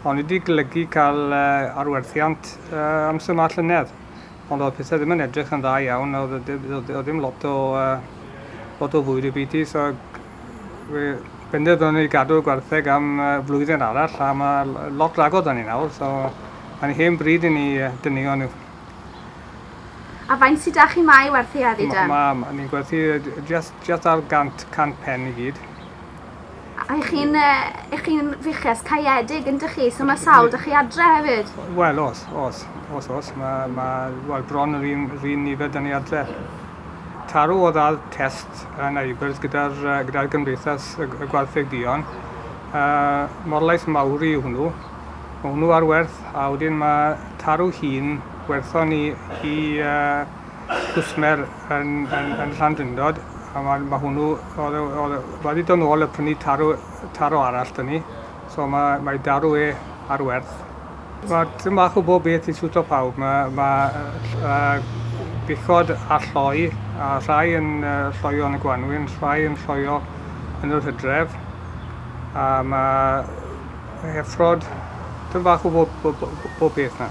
O'n i 'di golygu cael arwerthiant amser 'ma llynedd, ond oedd pethau ddim yn edrych yn dda iawn, oedd ddim lot o, lot o fwyd y byd i, so fe benderfynon ni gadw'r gwartheg am flwyddyn arall, a mae lot rhagor da ni nawr, so mae'n hen bryd i ni dynuo nhw. A faint sydd 'da chi 'ma i werthu heddi de? Ni'n gwerthu jyst ar gant, cant pen i gyd. Ych chi'n yy ych chi'n fuches caeedig yndych chi? So ma' sawl 'da chi adre hefyd? Wel o's, o's, o's, o's. Ma' ma' wel bron yr un yr un nifer 'da ni adre. Taro o'dd ar test yn Aberth gyda'r yy gyda'r Gymdeithas y y Gwartheg Duon. Yy Morlais Mawri yw hwnnw. Ma' hwnnw ar werth a wedyn ma' Taro 'i hun werthon ni i yy cwsmer yn yn yn Llandrindod a ma' ma' hwnnw o'dd e o'dd e ma' 'di do' nôl a prynu tarw tarw arall 'da ni so ma' mae darw e ar werth. Ma' tym bach o bob beth i siwto pawb ma' ma' yy yy buchod a lloi a rhai yn yy lloio yn y gwanwyn rhai yn lloio yn yr Hydref a ma' yy effrod tym bach o bob bob bob peth 'na.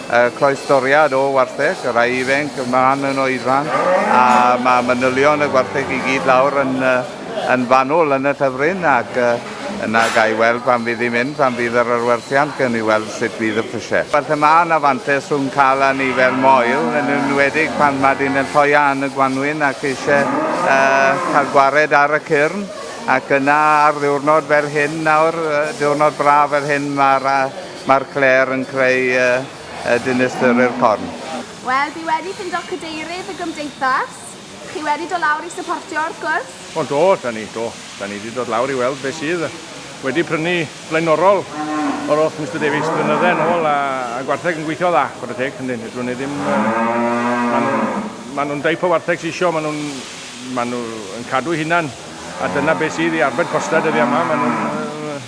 y cloestoriad o wartheg, y rhai ifanc, y man yn oedfan, a mae manylion y gwartheg i gyd lawr yn, yn fanwl yn y llyfryn, ac yna ga i weld pan fydd i'n mynd, pan fydd yr arwerthiant, gan i weld sut fydd y prisiau. Felly mae yna fantes rhwng cael a ni fel moel, yn enwedig pan mae dyn yn lloia yn y gwanwyn ac eisiau uh, cael gwared ar y cyrn, ac yna ar ddiwrnod fel hyn nawr, diwrnod braf fel hyn, mae'r Mae'r clêr yn creu y dinistyrrur corn. Wel, dwi wedi ffindo cadeirydd y gymdeithas. Chi wedi dod lawr i syportio wrth gwrs? O do, da ni, do. Da ni di dod lawr i weld be sydd. Wedi prynu blaenorol o'r oll Mister Davies blynydde yn ôl a, a gwartheg yn gweithio dda, chwarae teg, yndyn, ydw ni ddim... Maen nhw'n ma nhw deip o wartheg sy'n isio, maen nhw'n ma nhw yn cadw hunan a dyna be sydd i arbed costa dyddiau yma, maen nhw'n...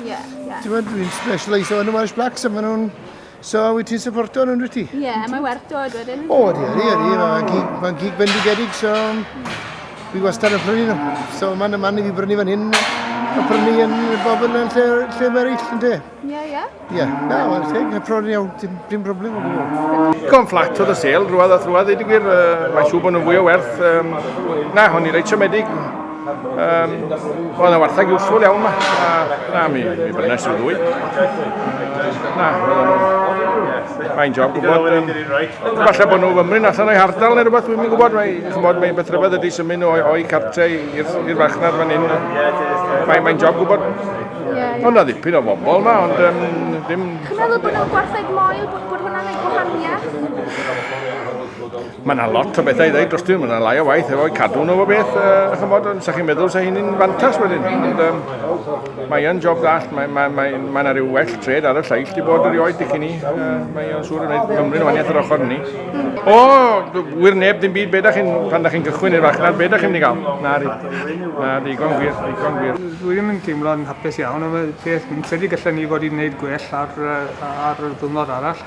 Ie, ie. Ti'n gwybod, dwi'n specialisio yn y Welsh Blacks a maen nhw'n... So, wyt ti'n supporto nhw'n rwyt ti? Ie, yeah, mae'n werth dod wedyn. O, di, di, di, mae'n gig, ma gig bendigedig, so... Fi wastad yn prynu nhw. So, mae'n y man i fi brynu fan hyn, a prynu yn bobl yn lle, lle mae eraill, yn de? Ie, yeah, ie. Yeah. Ie, yeah. na, mae'n teg, mae'n prynu iawn, dim, dim problem o gwbl. Gom fflat oedd y sel, rhywbeth a rhywbeth, dweud y gwir, uh, mae'n siŵr bod nhw'n fwy o werth. Um, na, hwn i reit siomedig. Um, Oedd yna wartheg usful iawn ma. A, na, mi, mi brynes i'w ddwy. Na, oedd nhw. Mae'n job gwybod. Um, falle bod nhw fymryn allan o'i hardal neu rhywbeth, dwi'n gwybod. Mae, chymod, mae beth rhywbeth ydy symud nhw o'i cartrau i'r farchnad fan hyn. Mae'n mae job gwybod. Ond na ddipyn o bobl ma, ond um, dim... Chymryd bod nhw'n gwartheg moel, bod hwnna'n ei gwahaniaeth? Mae yna lot o bethau i ddweud dros ti, mae yna lai o waith efo'i cadw nhw o beth, uh, chymod, ond sa'ch chi'n meddwl sa hyn yn fantas wedyn. Ond um, mae yna job ddall, mae yna mae, mae, mae rhyw well tred ar y lleill di bod erioed i chi ni. Uh, mae yna'n siŵr yn gwneud Cymru'n waniaeth yr ochr ni. O, wir neb dim byd, beth ydych chi'n, pan ydych chi'n gychwyn i'r farchnad, beth ydych chi'n mynd i gael? Na, di. Na, digon gwir, digon gwir. Dwi ddim yn teimlo'n hapus iawn, ond beth, fi'n credu gallen ni fod i'n gwneud gwell ar, ar y ddwrnod arall.